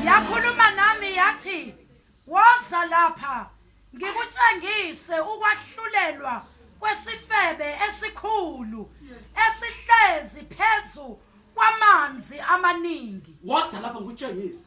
yakhuluma nami yathi woza lapha ngikutshengise ukwahlulelwa kwesifebe esikhulu esihlezi phezu kwamanzi amaningi woza lapha ngikutshengise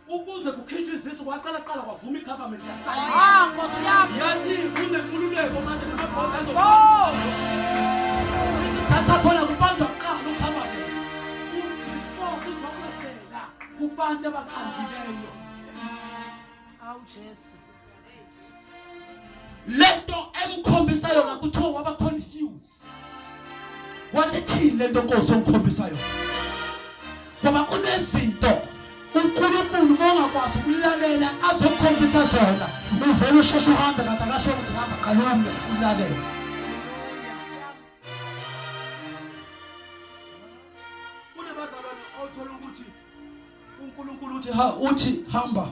ukuze kukhishwe izisu kwaqala qala kwavuma igovernment yasayina ah, yathi kunenkululeko manje namabhonda azosasakhona kubantu akuqala ugovernment kubantu abakhandileyo awu jesu lento emkhombisa yona kuthiwa waba confused wathi thini lento nkosi ongikhombisa yona ngoba kunezinto uNkulunkulu mongakwazi ukulalela azokhombisa zona uvele usheshe uhambe kanti akasho ukuthi hamba qalumbe ulalela kunabazalwane othola ukuthi uNkulunkulu uthi ha uthi hamba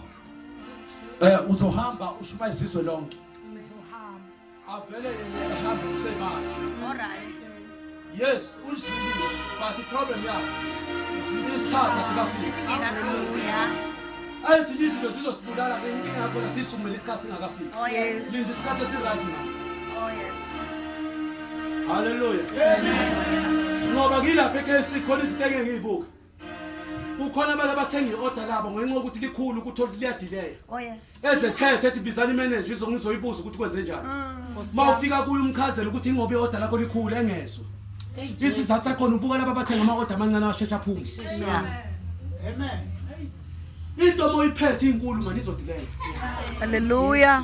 eh uzohamba ushuma izizwe lonke ngizohamba avele yena ehamba kusemanje alright yes uzilile but the problem yakhe isikhathi asikafiki ezinye izinto zizosibulala ke inkinga yakho nasisumele isikhathi singakafiki oh, linda isikhathi esiright na oh, haleluya ngoba ngilapha ekhesi khona izinto engeke ngiyibuka kukhona abake bathenga i-oda labo ngenxa yokuthi likhulu ukuthi oluthi liyadileya oh, ezethethe ethi bizani imeneja izongizoyibuza ukuthi kwenze njani uma mm. ufika kuyo umchazela ukuthi ingoba i-oda lakho likhulu engezwa isizathu sakhona ubuka laba bathenga ama-oda amancane asheshe aphume into uma uyiphethe inkulu mani izodileya halleluya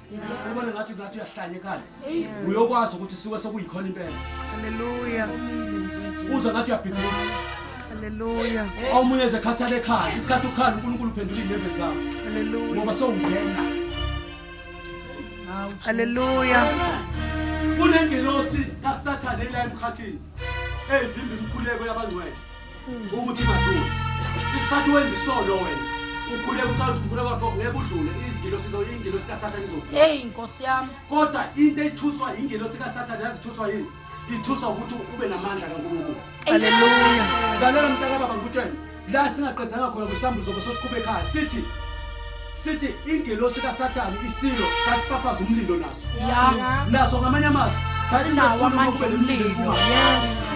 ubona ngathi ngathi uyahlanyekala uyokwazi ukuthi siwe sekuyikhona impela haleluya uza ngathi uyabhibhila haleluya omunye ezekhathala ekhaya isikhathi ukukhala unkulunkulu uphendula iy'nyembe zakho haleluya ngoba sewungena haleluya kunengelosi kasathane la emkhathini evimba imikhuleko yabangcwele ukuthi mazulu isikhathi wenza isono wena ukhule uthanda umfuna wakho ngeke udlule ingilo sizo ingilo sika sathane izodlula hey inkosi yami kodwa into ethuswa ingilo sika sathane yazithuswa yini ithuswa ukuthi ube namandla kaNkulunkulu haleluya lalela mntaka baba ngikutshela la singaqedanga khona mhlawumbe uzobe sosikhube ekhaya sithi sithi ingelosi kasathane isilo sasifafaza umlilo naso naso ngamanye amazwi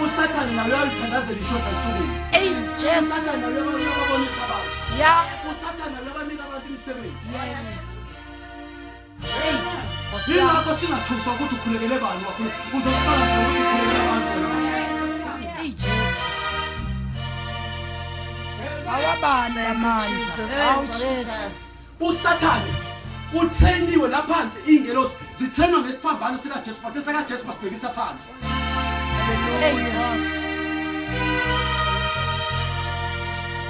usathane nayo yalithandazela ishoda esukwini usathane nayo yababonisa abantu usathane nayo yabanika abantu imisebenzi yingakho singathuswa ukuthi ukhulekele bani wakhulu uzosifaka nje ukuthi ukhulekele abantu eyi jesu awabani amandla awu jesu usathane utheniwe laphansi iy'ngelosi zithenwa ngesiphambano sikajesu bathe sakajesu basibhekisa phansi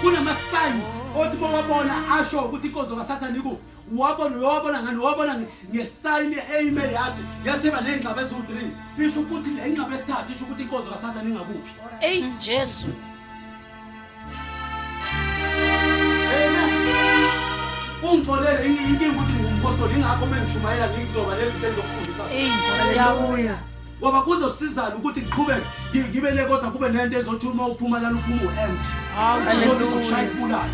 kunama-sign othi mowabona asho ukuthi inkonzo kasathane ikuphi wabona uyowabona ngani wabona ngesayini eyime yathi yaseba ney'ngxaba eziwu-three isho ukuthi le ingxaba esithathu isho ukuthi inkonzo kasathane ingakuphi eyi jesu ungixolele inkinga ukuthi ngingumphostoli ingakho uma ngishumayela ngizoba nezinto engizokufundisa eyi siyabuya ngoba kuzosizana ukuthi ngiqhubeke ngi- ngibe le kodwa kube nento ezothi uma uphuma lana uphuma u-empty Inkosi izokushaya ikubulale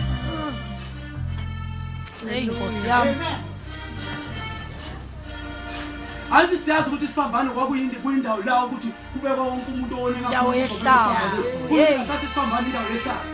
Hey Nkosi yami. anti siyazi ukuthi isiphambano kwakuyinde kuyindawo la ukuthi kubekwa wonke umuntu owoneka Indawo yehlazo. Hey. kuyisathi isiphambano indawo yehlazo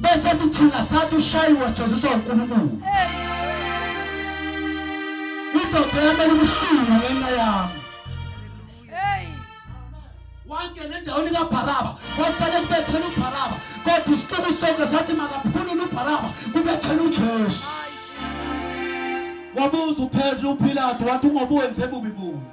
besethi thina sathi ushayiwe jeziswa unkulunkulu indoda yamele ubuhlungu ngenxa yami wangena endaweni kabharaba kwakufanele kubethela ubharaba kodwa isiqobo sonke sathi makaphulule ubharaba kubethela ujesu wabuza uphethe uphilatu wathi ungoba wenze bubi bubi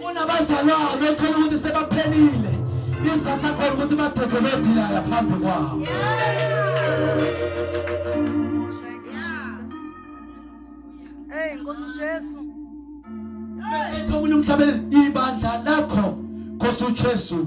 kunabazalwane othola ukuthi sebaphelile izatha khona ukuthi badede bedilaya phambi kwawo Hey Nkosi uJesu. Bese ithola umhlabeni ibandla lakho Nkosi uJesu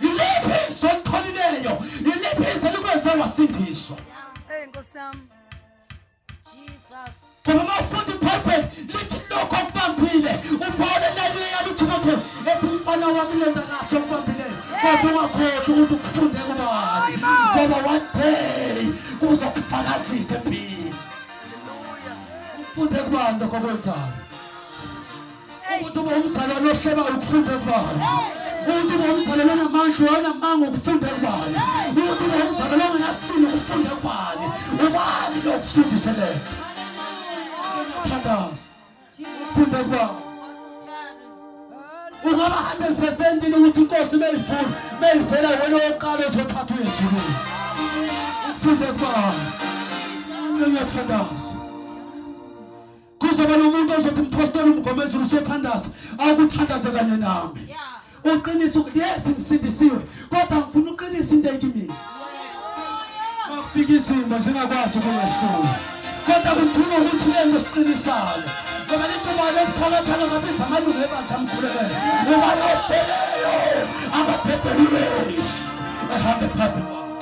Yiliphi izwi oliqholileyo? Yiliphi izwi elikwenze wasindiswa? Hey Nkosi yami. Jesus. Ngoba mafundi Bible lithi lokho okubambile ubone leli yaluthumathe ethi umfana wami lento kahle okubambileyo kodwa ungakhohlwa ukuthi ukufunde kubani ngoba one day kuzokufakazisa empini. Hallelujah. Ufunde kubani lokho okwenzayo? ukuthi ube umzalwane ohleba ukufunda kubani ukuthi ube umzalwane onamandla onamanga ukufunda kubani ukuthi ube umzalwane ongenasibili ukufunda kubani ubani lokufundise le thandaza ukufunda kubani ungaba 100 percent ini ukuthi inkosi meyivula meyivela wena wokuqala ozothatha uyezulwini ukufunda kubani uyathandaza kuzoba nomuntu ozothi mphostoli umgomezulu usethandaza awukuthandaze kanye nami uqinisa yes ngisindisiwe kodwa ngifuna uqinisa into ekimina bakufika izimo zingakwazi ukungahlula kodwa kudinga ukuthi lento siqinisane ngoba lento mali yokuthakathana ngabiza amalungu ebandla amkhulekele ngoba noseleyo akaphethe lulesi ehambe phambi kwakho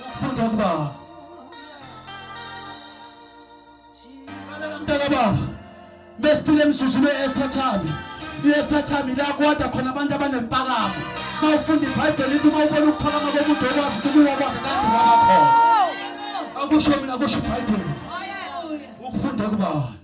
ukufunda ukuba mesifika emzuzwini we-extra time i-extra time ila kodwa khona abantu abanempakamo ma ufunda ibhayibheli ithi uma ubona ukuphakama komuntu okwazi ukuthi kuwa kwakhe kade wakakhona akusho mina kusho ibhayibheli ukufunda kubani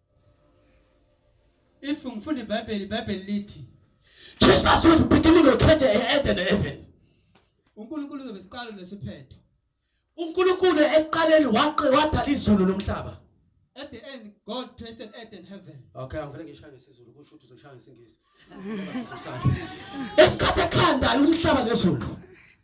If ngifunda iBhayibheli, iBhayibheli lithi Jesus was beginning to create Eden heaven. uNkulunkulu uzobe siqalo nesiphetho. uNkulunkulu ekuqaleni waqe wadala izulu lomhlaba At the end, God created earth and heaven. okay angivele ngishaya ngesizulu kusho ukuthi uzoshaya ngesingisi esikhathi ekhandayo umhlaba nezulu